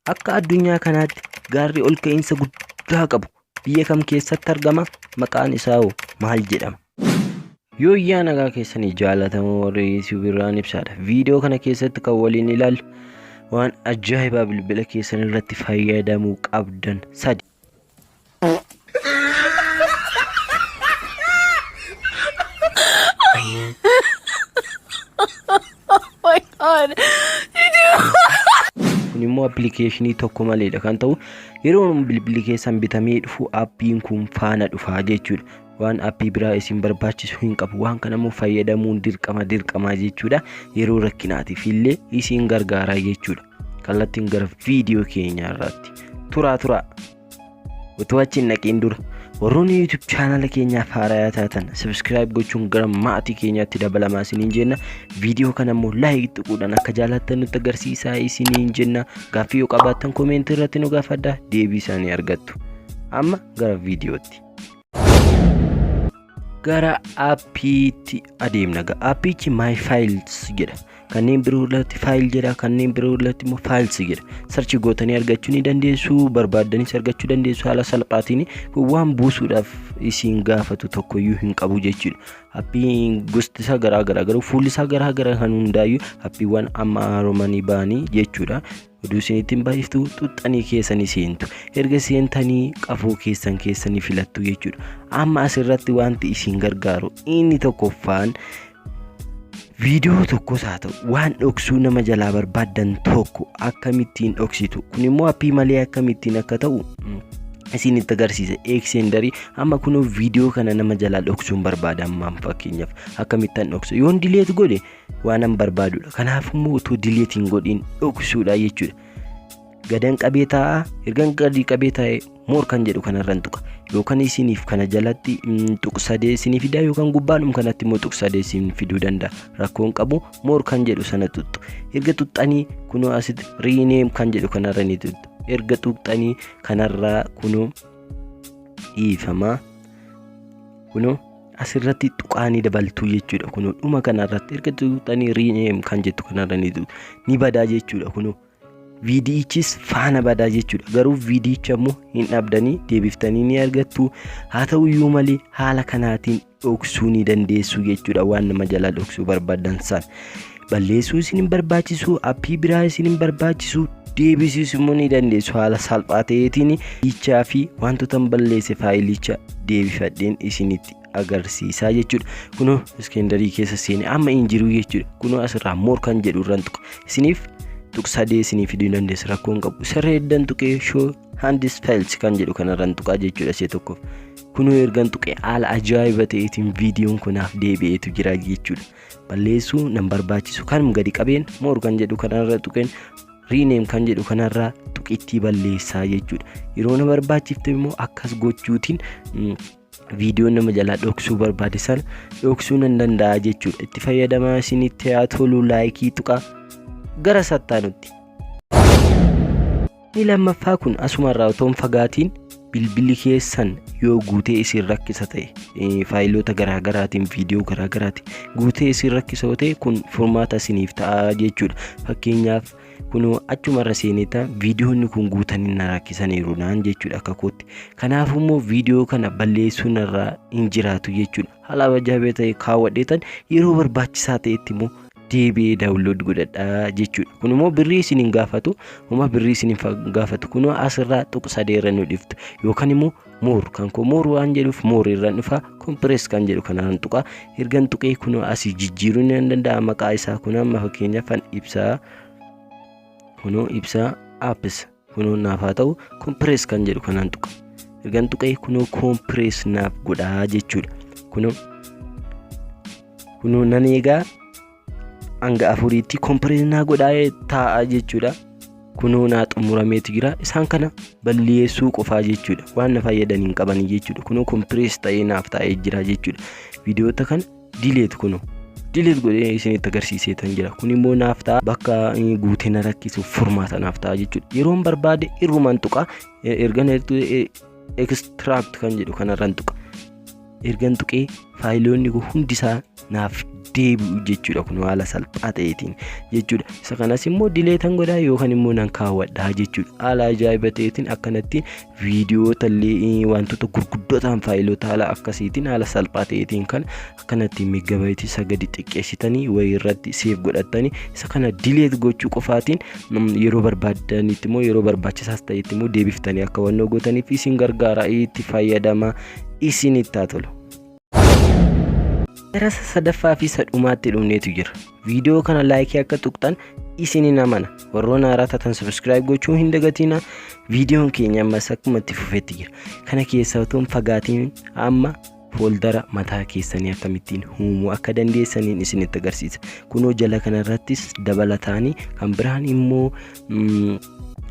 Akka addunyaa kanaatti gaarri ol ka'iinsa guddaa qabu biyya kam keessatti argama? Maqaan isaa hoo maal jedhama? Yooyyaa nagaa keessanii jaalatamoo warri YouTube irraan ibsaadha. Viidiyoo kana keessatti kan waliin ilaallu waan ajaa'ibaa bilbila keessan irratti fayyadamuu qabdan sadi. kun immoo appilikeeshinii tokko maleedha kan ta'u yeroo bilbilli keessan bitamee dhufu appiin kun faana dhufaa jechuudha waan appii biraa isin barbaachisu hin qabu waan kana immoo fayyadamuun dirqama dirqamaa jechuudha yeroo rakkinaatiif illee isin gargaaraa jechuudha. kallattiin gara viidiyoo keenyaa irraatti turaa turaa utuu achi hin dhaqiin dura warroonni YouTube chaanala keenyaaf haarayaa taatan subscribe gochuun gara maatii keenyaatti dabalamaa isiniin jenna viidiyoo kana immoo like tuquudhaan akka jaalattan nutti agarsiisaa isiniin jenna gaaffii yoo qabaattan koomeentii irratti nu gaafadhaa deebii isaanii argattu amma gara viidiyootti. gara appiitti adeemna ga appiichi my files jedha kanneen biroo irratti faayil jedha kanneen biroo irratti immoo files jedha sarchi gootanii argachuu ni dandeessu barbaaddanis argachuu dandeessu haala salphaatiin kun waan buusuudhaaf isiin gaafatu tokkoyyuu hin qabu jechuudha appiin gosti isaa garaa garaa garuu fuulli isaa garaa garaa kan hundaayyuu appiiwwan amma haaromanii ba'anii jechuudha oduu isin ittiin baay'iftu xuxxanii keessanii seentu erga seentanii qafoo keessan keessanii filattu jechuudha amma asirratti wanti isin gargaaru inni tokkoffaan viidiyoo tokkos haa ta'u waan dhoksuu nama jalaa barbaaddan tokko akkamittiin dhoksitu kun immoo appii malee akkamittiin akka ta'u isin itti agarsiisa eeksendarii amma kunoo viidiyoo kana nama jalaa dhoksuun barbaada ammaan fakkeenyaaf akkamittan dhoksa yoon dileet godhe waanan barbaadudha kanaaf immoo utuu dileet hin godhin dhoksuudha jechuudha gadan qabee taa'aa ergan gadii qabee taa'e moor kan jedhu kanarran tuqa yookaan isiniif kana jalatti tuqsadee isinii fidaa yookaan gubbaadhum kanatti immoo tuqsadee isin fiduu danda'a rakkoon qabu moor kan jedhu sana tuttu erga tuxxanii kunoo asitti riineem kan jedhu kanarra ni tuttu erga tuxxanii kanarraa kunoo dhiifamaa kunoo asirratti tuqaa ni dabaltuu jechuudha kunoo dhuma kanarratti erga tuqxanii rename kan jettu kanarra ni tuqxu ni badaa jechuudha kunoo viidiyichis faana badaa jechuudha garuu viidiyicha immoo hin dhabdanii deebiftanii ni argattu haa ta'u iyyuu malee haala kanaatiin dhoksuu ni dandeessu jechuudha waan nama jalaa dhoksuu barbaadan san balleessuu isin hin barbaachisu appii biraa isin hin barbaachisu deebisiis immoo ni dandeessu haala salphaa ta'eetiin hiichaa fi wantoota hin balleesse faayilicha deebifadheen isinitti agarsiisaa jechuudha kunoo iskendarii keessa seene amma hin jiru jechuudha kunoo asirraa moor kan jedhu irraan tuqa isiniif tuqsadee isinii fiduu dandeessa rakkoo hin qabu sirree eddan tuqee shoo handis faayils kan jedhu kanarraan tuqaa jechuudha see tokkoof kunoo ergan tuqee haala ajaa'iba ta'eetiin viidiyoon kunaaf deebi'eetu jira jechuudha balleessuu nan barbaachisu kanum gadi qabeen moor kan jedhu kanarra tuqeen riineem kan jedhu kanarra tuqittii balleessaa jechuudha yeroo na barbaachifte immoo akkas gochuutiin viidiyoo nama jalaa dhoksuu barbaade sana dhoksuu nan danda'a jechuudha itti fayyadamaa isinitti haa tolu laayikii tuqaa gara sattaanutti Inni lammaffaa kun asuma irraa otoo hin fagaatiin bilbilli keessan yoo guutee isin rakkisa ta'e eh, faayiloota garaagaraatiin viidiyoo garaagaraatiin guutee isin rakkisa yoo ta'e kun furmaata isiniif ta'a jechuudha. Fakkeenyaaf kun achuma irra seeneeta viidiyoonni kun guutanii na rakkisaniiru naan jechuudha akka kootti. Kanaaf immoo viidiyoo kana balleessuun irraa hin jiraatu jechuudha. Haala ajaa'ibaa ta'e kaawwadheetan yeroo barbaachisaa ta'etti immoo deebi'ee daawunlood godhadha jechuudha. Kun immoo birrii isin hin gaafatu, homa birrii isin hin gaafatu. Kun asirraa tuqu sadee irra nu dhiftu yookaan immoo moor kan koo moor waan jedhuuf moor irraan dhufa kompirees kan jedhu kanaan tuqa ergan tuqee kun asii jijjiiruu ni danda'a maqaa isaa kun amma fakkeenyaaf kan ibsaa kunoo ibsaa apps kunoo naaf haa ta'u kompirees kan jedhu kanaan tuqa ergan tuqee kunoo kompirees naaf godhaa jechuudha kunoo kunoo nan eegaa hanga afuriitti kompirees naa godhaa taa'aa jechuudha kunoo naa xumurameeti jira isaan kana balleessuu qofaa jechuudha waan na fayyadan hin qabanii jechuudha kunoo kompirees ta'ee naaf taa'ee jira jechuudha viidiyoota kana Delete kuno. Delete godhee isinitti agarsiisee tan jira. Kun immoo naaf ta'a bakka eh, guutee na rakkisuuf furmaata naaf ta'a jechuudha. Yeroon barbaade irrumaan tuqa. Eh, Ergan ertu eh, extract kan jedhu kanarran tuqa. Ergan tuqee faayiloonni koo hundi isaa naaf deebi'u jechuudha kun haala salphaa ta'eetiin jechuudha. Isa kanas immoo dileetan godhaa yookaan immoo nan kaawwadhaa jechuudha. Haala ajaa'iba ta'eetiin akkanatti viidiyoota illee wantoota gurguddoo ta'an faayilota haala akkasiitiin haala salphaa ta'eetiin kan akkanatti meegabaayiti isa gadi xiqqeessitanii wayii irratti seef godhattanii isa kana dileet gochuu qofaatiin yeroo barbaadanitti immoo yeroo barbaachisaas ta'etti immoo deebiftanii akka wannoo gootaniif isin gargaara itti fayyadama isinitti haa tolu. Gara isa sadaffaa fi isa dhumaatti dhumneetu jira. Viidiyoo kana laayikii akka tuqxan isinin amana. Warroon haaraa taatan subscribe gochuu hin dagatiina. Viidiyoon keenya ammas akkuma itti fufetti jira. Kana keessaa otoo hin fagaatiin amma fooldara mataa keessanii akkamittiin uumuu akka dandeessaniin isinitti agarsiisa. Kunoo jala kanarrattis dabalataanii kan biraan immoo mm,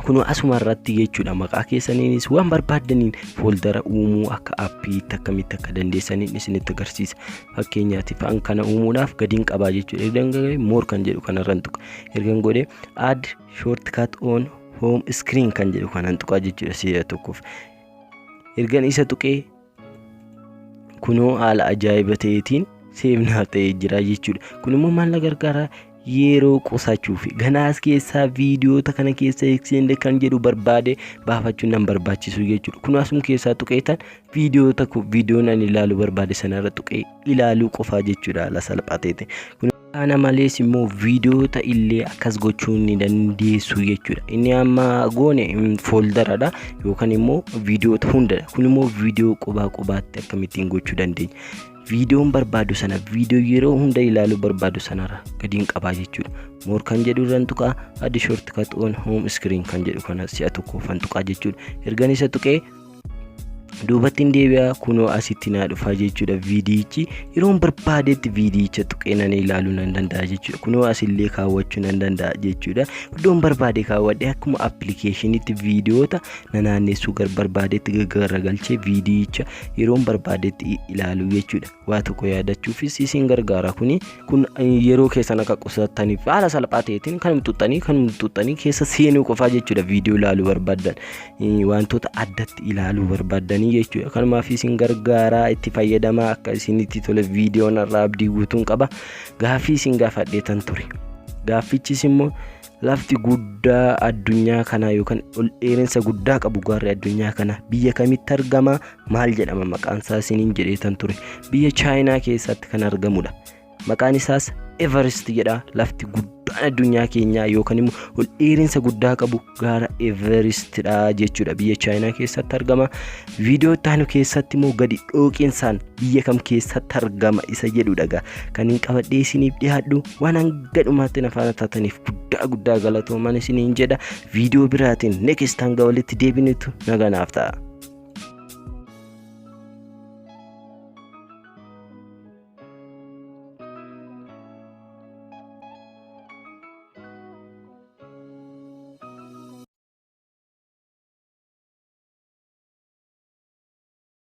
Kunoo asuma irratti jechuudha maqaa keessaniinis waan barbaaddaniin fooldara uumuu akka appiitti akkamitti akka dandeessaniin isinitti agarsiisa. Fakkeenyaatiif an kana uumuudhaaf gadiin qabaa jechuudha. Ergan gagee moor kan jedhu kanarran tuqa. Ergan godhee add shortcut on home screen kan jedhu kanan tuqaa jechuudha si'a tokkoof. Ergan isa tuqee kunoo haala ajaa'iba ta'eetiin seefnaaf ta'ee jira jechuudha. Kun immoo maal na gargaara? Yeroo qusachuuf ganaas keessaa viidiyoota kana keessa eegsisne kan jedhu barbaade baafachuun nan barbaachisu jechuudha. Kun asuma keessaa tuqeetan viidiyoota viidiyoon ani ilaaluu barbaade sanarra tuqee ilaaluu qofaa jechuudha haala salphaa ta'eetiin. Kana malees immoo viidiyoota illee akkas gochuu ni dandeessu jechuudha. Inni amma goone fooldaradha yookaan immoo viidiyoota hundadha. Kun immoo viidiyoo qubaa qubaatti akkamittiin gochuu dandeenya. Viidiyoon barbaadu sana viidiyoo yeroo hunda ilaaluu barbaadu sanarra gadiin qabaa jechuudha. Moor kan jedhu irraan tuqaa addi shortcut on home screen kan jedhu kana si'a tokkoofan tuqaa jechuudha. Ergan isa tuqee duubatti hin deebi'a kunoo asitti naa dhufaa jechuudha viidiyichi yeroon barbaadetti viidiyicha tuqee nan ilaaluu nan danda'a jechuudha kunoo asillee kaawwachuu nan danda'a jechuudha iddoon barbaade kaawwadhe akkuma appilikeeshiniitti viidiyoota na naannessuu gar barbaadetti gaggaragalchee viidiyicha yeroon barbaadetti ilaaluu jechuudha. waa tokko yaadachuufis isin gargaara kuni kun yeroo keessan akka qusattaniif haala salphaa ta'eetiin kan xuxxanii kan xuxxanii keessa seenuu qofaa jechuudha viidiyoo ilaaluu barbaadan wantoota addatti ilaaluu barbaadanii jechuudha kanumaaf isin gargaara itti fayyadamaa akka isinitti tole viidiyoon irraa abdii guutuun qaba gaaffii isin gaafadheetan ture gaaffichis immoo Lafti guddaa addunyaa kanaa yookaan ol dheerinsa guddaa qabu gaarri addunyaa kana biyya kamitti argama maal jedhama maqaan isaa isiniin jedheetan ture biyya chaayinaa keessatti kan argamudha maqaan isaas everest jedha lafti guddaan addunyaa keenyaa yookaan immoo ol dheerinsa guddaa qabu gaara everestidha jechuudha biyya chaayinaa keessatti argama viidiyoo itti aanu keessatti immoo gadi dhooqinsaan biyya kam keessatti argama isa jedhudha egaa kan hin qabadhee isiniif dhiyaadhu waan hanga dhumaatti na faana taataniif guddaa guddaa galatoomaa isiniin jedha viidiyoo biraatiin next hanga walitti deebinutu nagaan nuuf ta'a.